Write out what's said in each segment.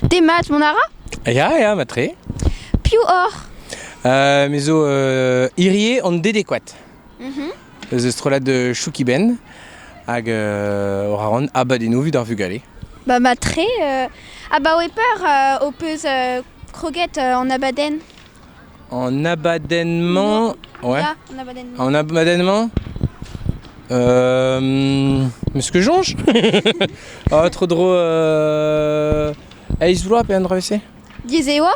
Demat, mont a ra Ya, ya, matre. Piv oc'h Euh, me zo euh, hirie an dedekouat. Mhm. Eus eus strollad euh, Choukiben hag euh, ora ran abadennoù evit ar vugale. Ba matre, euh, abaoe peur euh, ho peus euh, kroget euh, en abadenn En abadenn-mañ... Ouais. Ya, en abadenn-mañ. En abadenn-mañ euh... Monsieur Jonge Oh, trop drôle. Euh... Aizh vloaz pe an drevez-se Diez e oa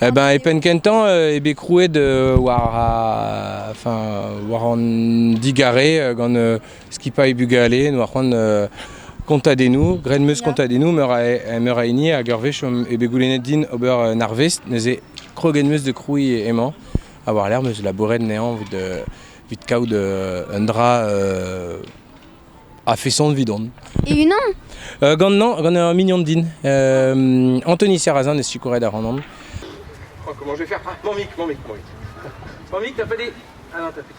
Eh ben, e penn kentañ euh, eo bet krouet euh, war, a, enfin, war an digarez euh, gant euh, skipailh bugale, noa c'hoant euh, kontadennoù, graet meus kontadennoù meur a, meur a hini hag ur wech omp bet goulennet din ober un arvest, neuze kroget meus de krouiñ emañ, ha war lec'h meus labouret nezañ vit kaout euh, un dra euh, a feson vidon. Et unan euh, Gant non, gant un mignon din. Euh, Anthony Serrazin est sikouret a Randon. Oh, comment je vais faire hein Mon mic, mon mic, mon mic. Mon mic, t'as pas dit Ah non, t'as fait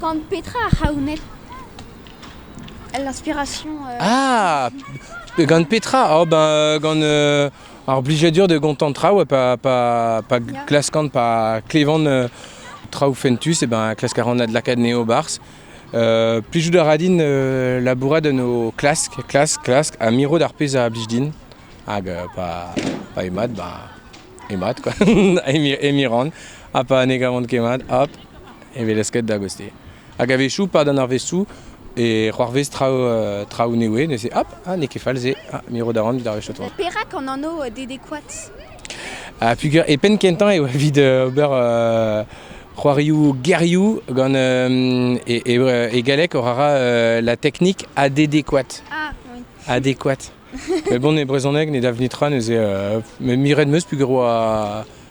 Gant petra ar c'haouned El inspiration. Ah Gant petra oh ben gant ar blijadur da gontañ traoù ha pa pa pa glaskan pa klevan traoù fentus eh ben klask a ran adlakaat anezho e-barzh. Plijout a ra din labourat en ho klask klask klask ha mirout ar pezh a blij din hag pa pa eo mat bah eo mat quoi emi emi ran ha pa ne gavan ket mat hop. hevelesket da goste. Hag a-wechoù, pad an arvestoù, e c'hoarvez traoù euh, traoù newe, neuze, hop, ah, n'eo ket fall-se, ah, me ro da ran evit arvestoù tro. Perak an anv euh, Dede Koat ha puger e penn kentañ eo evit euh, ober euh, c'hoarioù gerioù gant euh, e, galek o rara la technique adéquate. Ah oui. Adéquate. Mais bon, e brezhoneg ne da vnit ra neuze me miret meus puger oa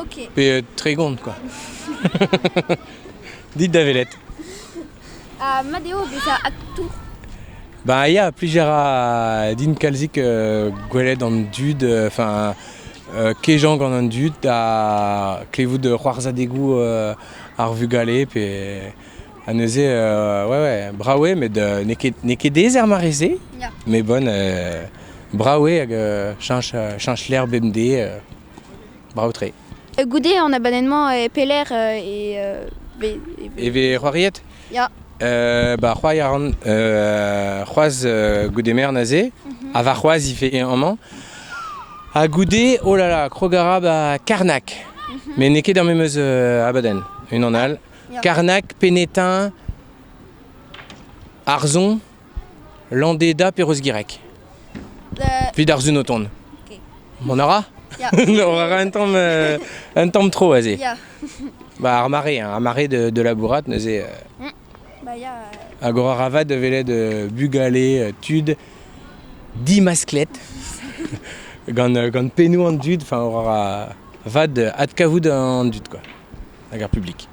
Ok. Pe euh, tregont, quoi. Dites da velet. Uh, mat eo bezañ aktour Bah, ya, plusieurs a din kalzik euh, gwelet an dud, enfin, euh, kejañ gant an dud, da klevout c'hoarzhadegoù euh, ar vugale, pe ha neuze, euh, ouais, ouais, brawe, met euh, n'eo ket, ket dezer mareze, yeah. mais bon, euh, brawe hag euh, chanch, chanch l'herbe bemdez, euh, Brao-tre. Goude an abadenn-mañ e pelec'h e... E vez c'hoariet Ya. Euh, bah, c'hoari a ran euh, c'hoaz euh, goude mern aze, mhm. ha varc'hoaz il fait amañ. Ha goude, oh là là, krogarab à Karnak. Mhm. Mais n'eo ket er memeus euh, abadenn, unan all. Karnak, Penetin, Arzon, Landeda pe Rosgireg Evit ar Sun o tont Ok. Mont a ra Ya. On a ra un tamm, euh, un tamm tro aze Ya. Bah, ar mare, hein, ar mare de, de la bourrate neuze euh, Bah, ya. euh, Agora Ravat de velet euh, bugale, euh, tud, di masclette gant, euh, gant pennoù an dud, enfin Aurora Vad euh, adkavout an dud quoi, hag ar publik.